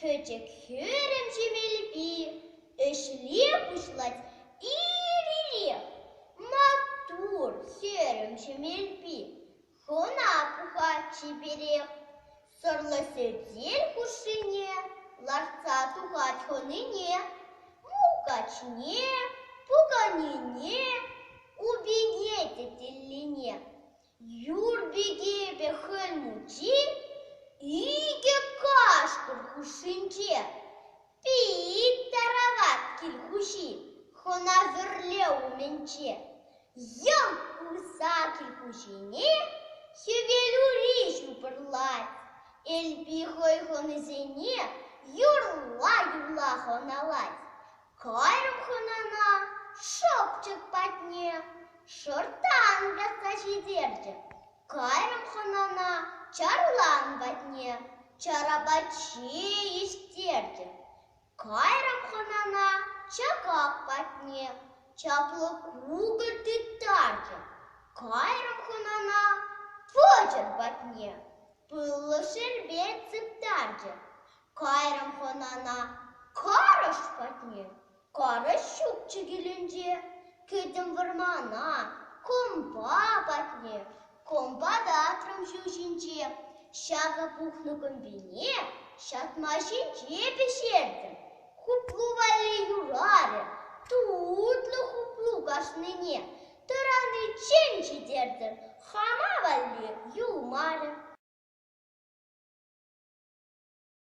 Пӗчӗк хӗрӗм ҫемелпи ӗҫле пуҫлать ир-ирех. Маттур, хӗрӗм ҫемелпи. Хӑна пӑхать-чиперех, сӑрлӑ сӗтел хушшине лартса тухать хӑнине, мулкачне, пуканине, упине тетеллине. Юр пикепе хӑй мучи икӗ кашкӑр хушшинче. Пит-тарават кил хуҫи хӑнасӑрле умӗнче йӑм курса кил хуҫине хӗвелури ҫупӑрлать, Элпи хӑй хӑнисене юрла-юрла хӑналать, кайрӑм хӑнана шӑпчӑк патне шӑрттан касса ҫитерчӗ. Кайрӑм хӑнана чарлан патне, чар апачи ӳстертӗм. Кайрӑм хӑнана чакак патне, чаплӑ кукӑр тыттартӑм. Кайрӑм хӑнана пӑчӑр патне, пыллӑ шербет сыптартӑм. Кайрӑм хӑнана карӑш патне. Карӑҫ ҫук чикӗлӗнче кӗтӗм вӑрмана. Компа патне компа татрӑм ҫу ҫинче. Ҫакӑ пухнӑ кӑмпине ҫатма ҫинче пӗҫертӗм. Хуплу валли юрарӗ тутлӑ хуплу кашнине. Тӑраниччен ҫитертӗм хама валли юлмарӗ.